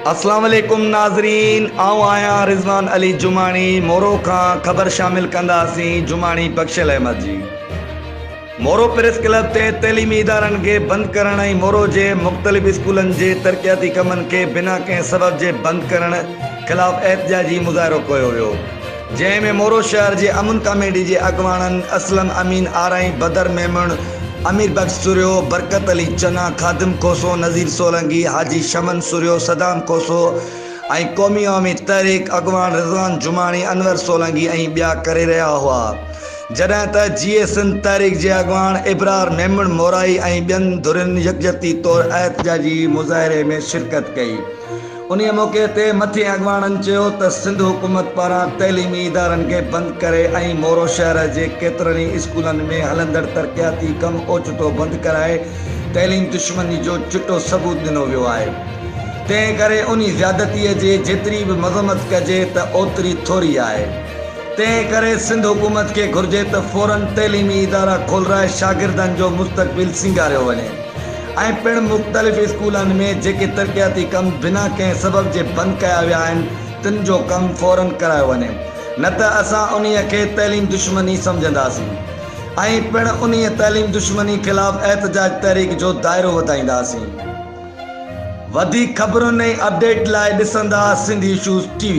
اسلام عليڪم ناظرين آئون آهيان رضوان علي جماڻي مورو کان خبر شامل ڪنداسين جماڻي بخشل احمد جي مورو پريس ڪلب تي تعليمي ادارن کي بند ڪرڻ ۽ مورو جي مختلف اسڪولن جي ترقياتي ڪمن کي بنا ڪنهن سبب جي بند ڪرڻ خلاف احتجاجي مظاهرو ڪيو ويو جنهن ۾ مورو شهر جي امن ڪاميٽي جي اڳواڻن اسلم امين آرائين، بدر ميمڻ، امير بخش سرهيو، برڪت علي چنا، خادم کوسو، نذير سولنگي، حاجي شمن سرهيو، صدام کوسو ۽ قومي عوامي تحريڪ اڳواڻ رضوان جماڻي، انور سولنگي ۽ ٻيا ڪري رهيا هئا جڏهن ته جيئي سنڌ تحريڪ جي اڳواڻ ابرار ميمڻ مورائي ۽ ٻين ڌرين يڪجهتي طور احتجاجي مظاهري ۾ شرڪت ڪئي. انهيء موقعي تي مٿين اڳواڻن چيو ته سنڌ حڪومت پاران تعليمي ادارن کي بند ڪري ۽ مورو شهر جي ڪيترن ئي اسڪولن ۾ هلندڙ ترقياتي ڪم اوچتو بند ڪرائي تعليم دشمني جو چٽو ثبوت ڏنو ويو آهي تنهن ڪري انهي زيادتيء جي جيتري به مذمت ڪجي ته اوتري ٿوري آهي تنهن ڪري سنڌ حڪومت کي گهرجي ته فورن تعليمي ادارا کولرائي شاگردن جو مستقبل سينگاريو وڃي. ائين پڻ مختلف اسڪولن ۾ جيڪي ترقياتي ڪم بنا ڪنهن سبب جي بند ڪيا ويا آهن تن جو ڪم فورا ڪرايو وڃي نه ته اسان انهي کي تعليم دشمني سمجهنداسين ائين پڻ انهي تعليم دشمني خلاف احتجاج تحريڪ جو دائرو وڌائينداسين وڌيڪ خبرن ۽ اپڊيٽ لاء ڏسندا سنڌ ايشوز ٽي وي.